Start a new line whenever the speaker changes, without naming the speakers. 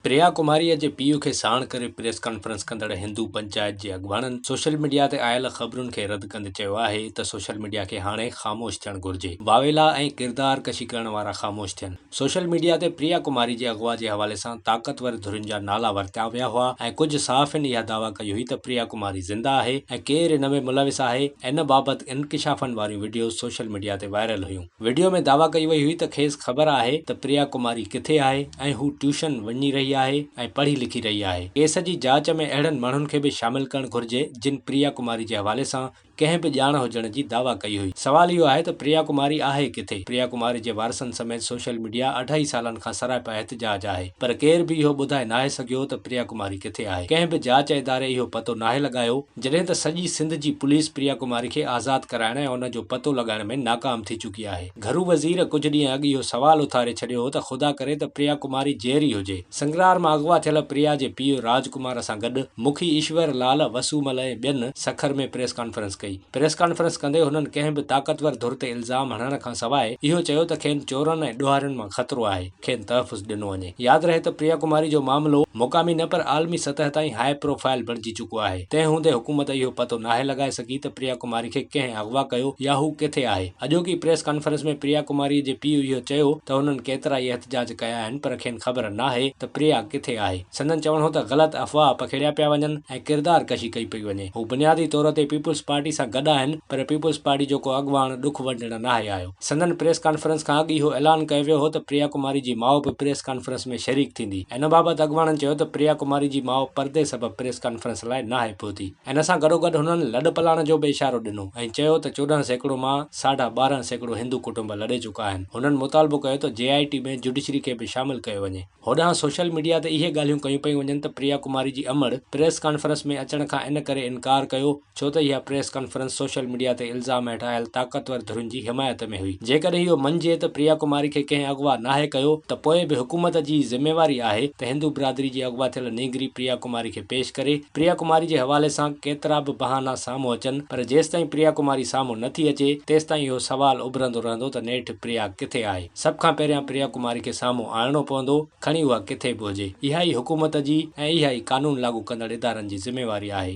پريا ڪماريء جي پيء کي ساڻ ڪري پريس ڪانفرنس ڪندڙ هندو پنچائت جي اڳواڻن سوشل ميڊيا تي آيل خبرن کي رد ڪندي چيو آهي ته سوشل ميڊيا کي هاڻي خاموش ٿيڻ گهرجي، واويلا ۽ ڪردار ڪشي ڪرڻ وارا خاموش ٿين. سوشل ميڊيا تي پريا ڪماري جي اغوا جي حوالي سان طاقتور ڌرين جا نالا ورتيا ويا هئا ۽ ڪجهه صحافين اها دعويٰ ڪئي هئي ته پريا ڪماري زنده آهي ۽ ڪير ان ۾ ملوث آهي، ان بابت انڪشافن واريون وڊيوز سوشل ميڊيا تي وائرل هيون. وڊيو ۾ دعويٰ ڪئي وئي هئي ته کيس خبر آهي ته پريا ڪماري ڪٿي آهي ۽ هو ٽيوشن وڃي رهي آهي ۽ پڙهي لکي رهي آهي. ڪيس جي جاچ ۾ اهڙن ماڻهن کي به شامل ڪرڻ گهرجي جن پريا ڪماري جي حوالي سان ڪنهن به ڄاڻ هجڻ جي دعويٰ ڪئي هئي. سوال اهو آهي ته پريا ڪماري آهي ڪٿي؟ پريا ڪماري جي وارثن سميت سوشل ميڊيا اڍائي سالن کان سراپا احتجاج آهي پر ڪير به اهو ٻڌائي ناهي سگهيو ته پريا ڪماري ڪٿي آهي. ڪنهن به جاچ اداري اهو پتو ناهي لڳايو جڏهن ته سڄي سنڌ جي پوليس پريا ڪماري کي آزاد ڪرائڻ ۽ ان جو پتو لڳائڻ ۾ ناڪام ٿي چڪي آهي. گهرو وزير ڪجهه ڏينهن اڳ اهو سوال اٿاري ڇڏيو هو ته خدا ڪري ته پريا ڪماري جيئري هجي. سنگرار مان اغوا ٿيل پريا جي پيء راج ڪمار سان گڏ مکي ايشور لال، وسو مل ۽ ٻين سکر ۾ پريس ڪانفرنس ڪئي. پريس ڪانفرنس ڪندي هنن ڪنهن به طاقتور ڌر تي الزام هڻڻ کان سواء اهو چيو ته کين چورن ۽ ڏوهارين مان خطرو آهي. کين تحفظ ڏنو وڃي. ياد رهي ته پريا ڪماري جو معاملو مقامي نه پر عالمي سطح تائين هاء پروفائل بڻجي چڪو آهي. تنهن هوندي حڪومت اهو پتو ناهي لڳائي سگهي ته پريا ڪماري کي ڪنهن اغوا ڪيو يا هو ڪٿي آهي. اڄوڪي پريس ڪانفرنس ۾ پريا ڪماري جي پيء اهو چيو ته هنن ڪيترا ئي احتجاج ڪيا آهن پر کين خبر ناهي ته پريا ڪٿي آهي. سندن چوڻ هو ته غلط افواهه پکيڙيا پيا وڃن ۽ ڪردار ڪشي ڪئي پئي وڃي. هو بنيادي طور تي پيپلز پارٽي سان گڏ آهن پر پيپلز پارٽي جو ڪو اڳواڻ ڏک ونڊڻ ناهي آيو. سندن پريس ڪانفرنس کان اڳ اهو اعلان ڪيو ويو هو ته پريا ڪماري جي ماء به پريس ڪانفرنس ۾ شريڪ ٿيندي. ان بابت اڳواڻن چيو ته پريا ڪماري جي ماء پردي سبب پريس ڪانفرنس لاء ناهي پهتي. ان سان گڏوگڏ هنن لڏپلاڻ جو به اشارو ڏنو ۽ چيو ته چوڏهن سيڪڙو مان ساڍا ٻارهن سيڪڙو هندو ڪٽنب لڏي چڪا آهن. هنن مطالبو ڪيو ته جي آء ٽي ۾ جڊيشري کي به شامل ڪيو وڃي. هوڏانهن سوشل ميڊيا تي اهي ڳالهيون ڪيون پيون وڃن ته پريا ڪماري جي امڙ پريس ڪانفرنس ۾ اچڻ کان ان ڪري انڪار ڪيو ڇو ته اها پريس ڪانفرنس سوشل ميڊيا تي الزام هيٺ آيل طاقتور ڌرين جي حمايت ۾ هئي جيڪڏهن اهو مڃجي ته پريا ڪماري کي ڪنهن اغوا ناهي ڪيو ته پوء به حڪومت جي ئي ذميواري آهي ته هندو برادري جي اغوا ٿيل نينگري پريا ڪماري کي پيش ڪري پريا ڪماري جي حوالي سان ڪيترا به بهانا سامهون اچن پر جيستائين پريا ڪماري سامهون نٿي اچي تيستائين اهو سوال اڀرندو رهندو ته نيٺ پريا ڪٿي آهي. سڀ کان پهريان پريا ڪماري کي سامهون آڻڻو پوندو، کڻي اها ڪٿي به هجي. اها ئي حڪومت جي ۽ اها ئي قانون لاڳو ڪندڙ ادارن جي ذميواري آهي.